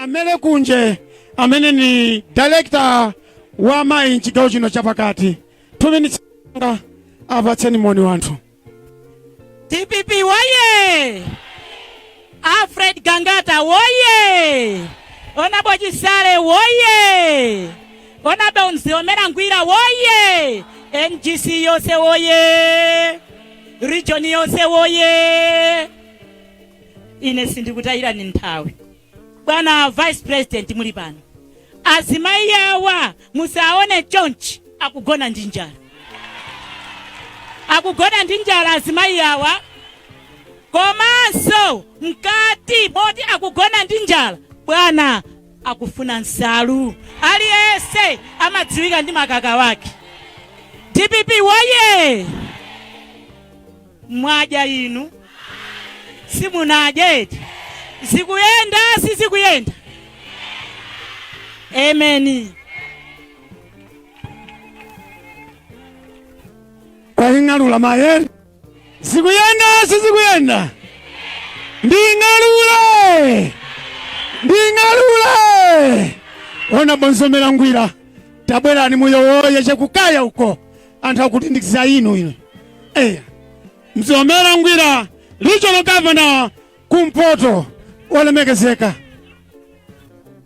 amenewo kunje amene ni director wa amayi mchigawo chino chapakati two minutes nga apatseni moni anthu dpp woye Alfred Gangata woye! Honorable Chisale woye! Honorable Mzomera Ngwira woye! NGC yonse woye! Region yonse woye! Ine sindikutayirani nthawi. Bwana Vice President muli pano. Azimayi awa musaone chonchi akugona ndi njala. Akugona ndi njala azimayi awa komanso mkati moti akugona ndi njala bwana akufuna nsalu aliyese amadziwika ndi makaka wake dpp woye mwadya inu simunadye eti zikuyenda sizikuyenda amen kwaling'alula mayere zikuyenda sizikuyenda nding'alule nding'alule honorable mzomera ngwira tabwerani muyowoye chakukaya uko anthu akulindizga inu eya mzomera ngwira regional governor kumpoto olemekezeka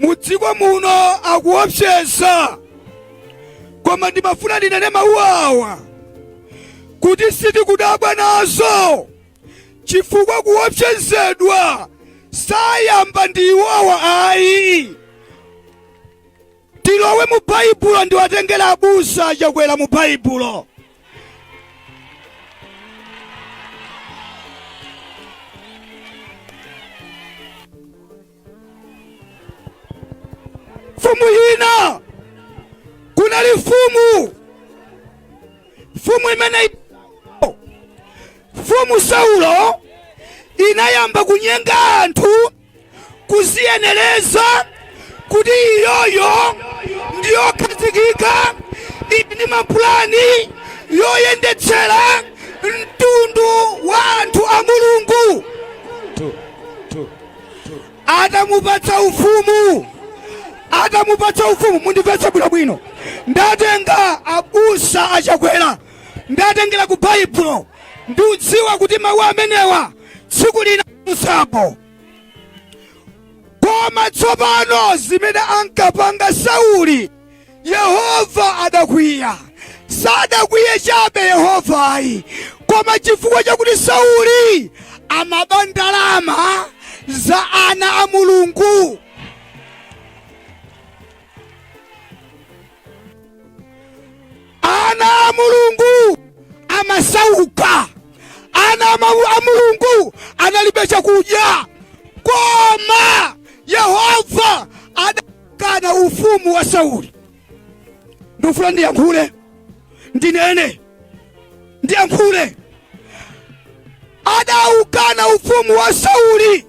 mu dziko muno akuopseza koma ndimafuna ndinene mawu awa kuti sitikudabwa nazo chifukwa kuopsezedwa sanayambe ndi iwowa ayi Tilowe mu Baibulo ndiwatengera abusa a Chakwera mu Baibulo. Mfumu yina kunali mfumu mfumu imene mfumu Saulo inayamba kunyenga anthu kuziyenereza kuti iyoyo ndiyokhazikika ili ndi mapulani oyendetsera mtundu wa anthu a mulungu atamupatsa ufumu atamupatsa ufumu mundimvetse bwinobwino ndatenga abusa a chakwera ndatengera ku baibulo ndiudziwa kuti mawu amenewa tsiku lina musapo koma tsopano zimene ankapanga sauli yehova adakwiya sadakwiye chabe yehova ayi koma chifukwa chakuti sauli amaba ndalama za ana a mulungu Ana a Mulungu amasauka. Ana a Mau- a Mulungu analibe chakudya, koma Yehova adaukana ufumu wa Sauli. Ndikufuna ndiyankhule, ndinene, ndiyankhule. Adaukana ufumu wa Sauli,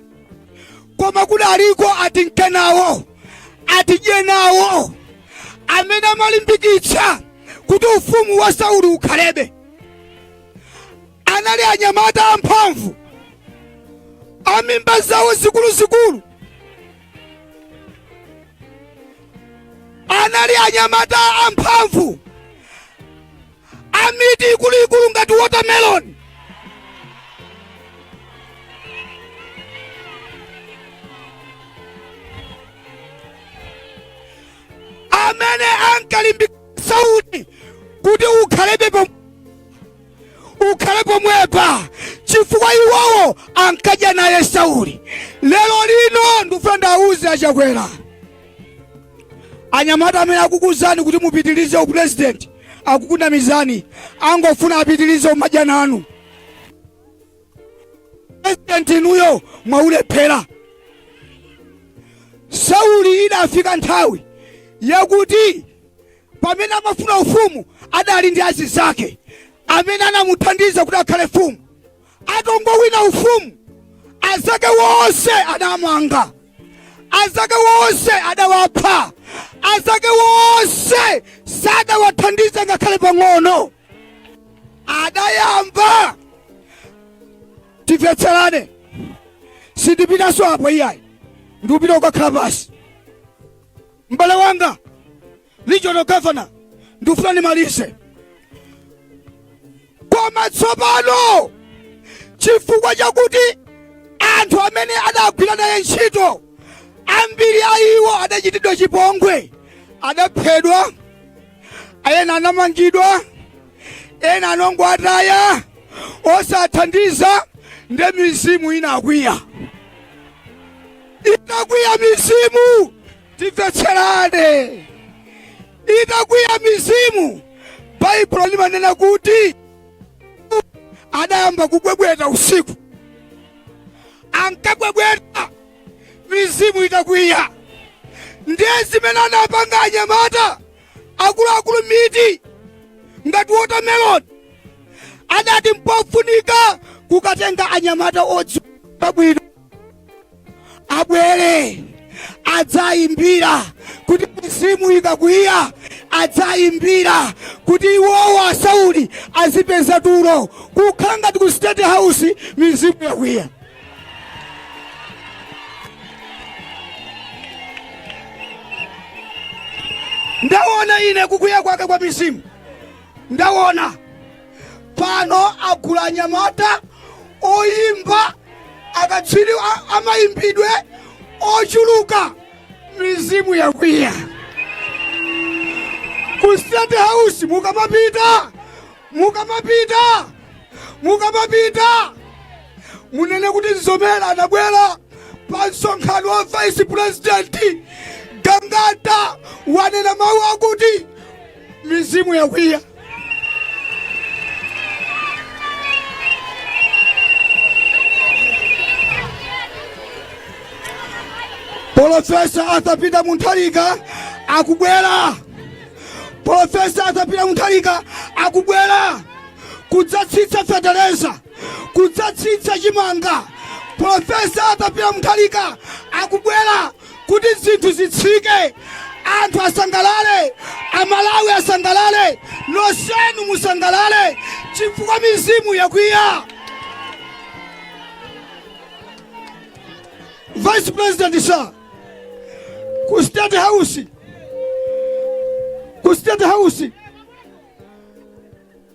koma kudaliko atinkenawo atidye nawo amene amalimbikitsa kuti ufumu wa sauli ukhalebe anali anyamata amphamvu amimba zawo zikuluzikulu anali anyamata amphamvu amitu ikuluikulu ngati watermelon amene ankalimbika Sauli kuti ukhalebe pom- ukhale pomwepa chifukwa iwowo ankadya naye Sauli lero lino ndikufuna ndawuze a Chakwera anyamata amene akukuuzani kuti mupitirize upulezidenti akukunamizani angofuna apitilize kumadya nanu president inuyo mwaulephera sauli idafika nthawi yakuti pamene amafuna ufumu adali ndi azizake amene anamuthandiza kuti akhale mfumu Atongowina ufumu, anzake wonse adamwanga, anzake wonse adawapha, anzake wonse sadawathandiza ngakhale pang'ono. Adayamba timvetserane, sindipitanso apo iyayi, ndikupita kukakhala pansi. M'bale wanga, regional governor ndikufuna ndimalize koma tsopano chifukwa chakuti anthu amene adagwira naye ntchito ambiri a iwo adachitidwa chipongwe adaphedwa ena anamangidwa ena anangowataya osathandiza nde mizimu inakwiya inakwiya mizimu Timvetserane. Itakwiya mizimu, Baibulo limanena kuti anayamba kubwebweta usiku, ankabwebweta mizimu itakwiya. Ndiye zimene anapanga anyamata akuluakulu miti ngati watermelon anati mpofunika kukatenga anyamata odziwa bwino abwere adzayimbira kuti mizimu ikakwiya adzayimbira kuti iwowa a Sauli azipeza tulo kukhala ngati ku state house mizimu yakwiya ndawona ine kukwiya kwake kwa mizimu ndawona pano agula anyamata oyimba akatswiri a- amayimbidwe ochuluka mizimu yakwiya ku state house mukamapita mukamapita mukamapita munene kuti Mzomera anabwera pa msonkhano wa vice president Gangata wanena mawu akuti mizimu yakwiya polofesa Arthur Peter Mutharika akubwera polofesa Arthur Peter Mutharika akubwera kudzatsitsa fetereza kudzatsitsa chimanga polofesa Arthur Peter Mutharika akubwera kuti zinthu zitsike anthu asangalale amalawi asangalale nonsenu musangalale chifukwa mizimu yakwiya vice president sir ku state house ku state house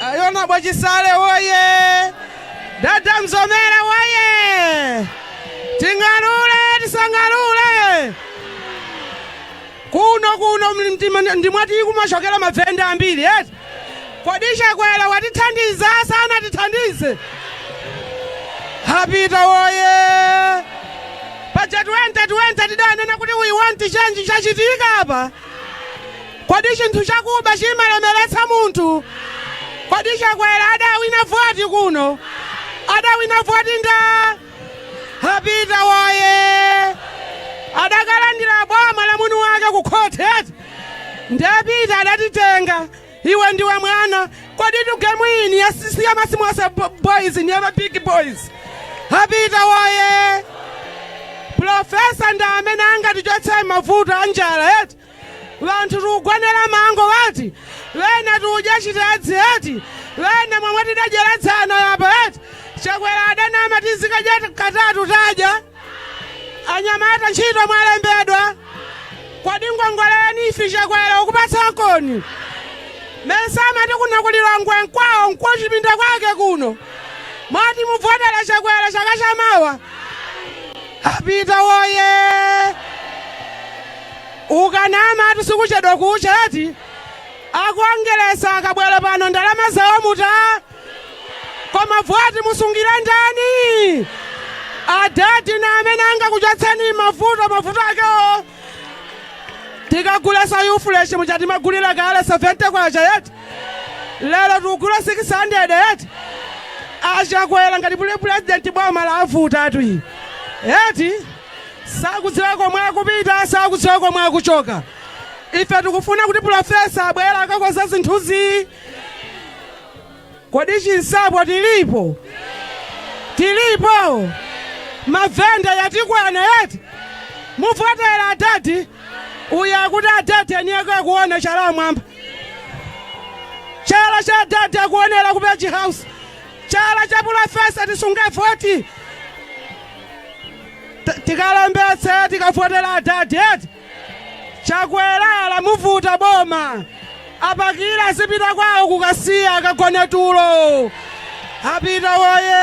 Honourable Chisale woye! Dada Mzomera woye! Ting'alule tisang'alule! Kuno kuno mli- mtima- ndimati kumachokera mavenda ambiri eti? Kodi Chakwera watithandiza sanatithandize? A Peter woye! Paja 2020 tidanena kuti we want change chachitika apa. Kodi chinthu chakuba chimalemeretsa munthu? Kodi Chakwera adawina voti kuno? Adawina voti nda? A Peter woye! Adakalandira boma la mwini wake ku khoti eti? Nde Peter adatitenga. Iwe ndiwe mwana kodi gemu iyi ni ya ma small boys ni ya ma big boys apita woye profesa nda amene angatichotse mavuto a njala eti wanthu tikukanganira mango eti wena tikudya chitedzi eti wena momwe tidadyera dzana apa eti chakwera adanama tizikadya katatu tadya anyamata ntchito mwalembedwa kodi ngongole ni ife chakwera wakupatsani kodi mesa amati kuno ku Lilongwe nkwawo nkuchipinda kwake kuno moti muvotere chakwera chaka chamawa apita woye ukanamatu sikuchedwa kucha eti akuongeresani akabwera pano ndalama zawo muta koma voti musungile ndani adadi nda amene angakuchotseni mavuto mavuto akewo tikagule Surf fresh m'mene timagulira kale 70 kwacha eti lero tikugula 600 eti achakwera ngati puli pulezidenti boma lawavutatu ili eti sakudziwa komwe akupita sakudziwa komwe akuchoka ife tikufuna kuti pulofesa abwere akakonze zinthuzi Kodi Chinsapo tilipo? Tilipo? Mavenda yatikwana eti? Muvotera adadi? Uyu akuti adadi eniyeko akuona chala mwamba. Chala cha adadi akuonera ku Page House. Chala cha pulofesa tisunge voti. T- Tikalembetse tikavotere adadi eti? Chakwera lamuvuta boma apakire azipita kwawo ku Kasiya akagone tulo apita woye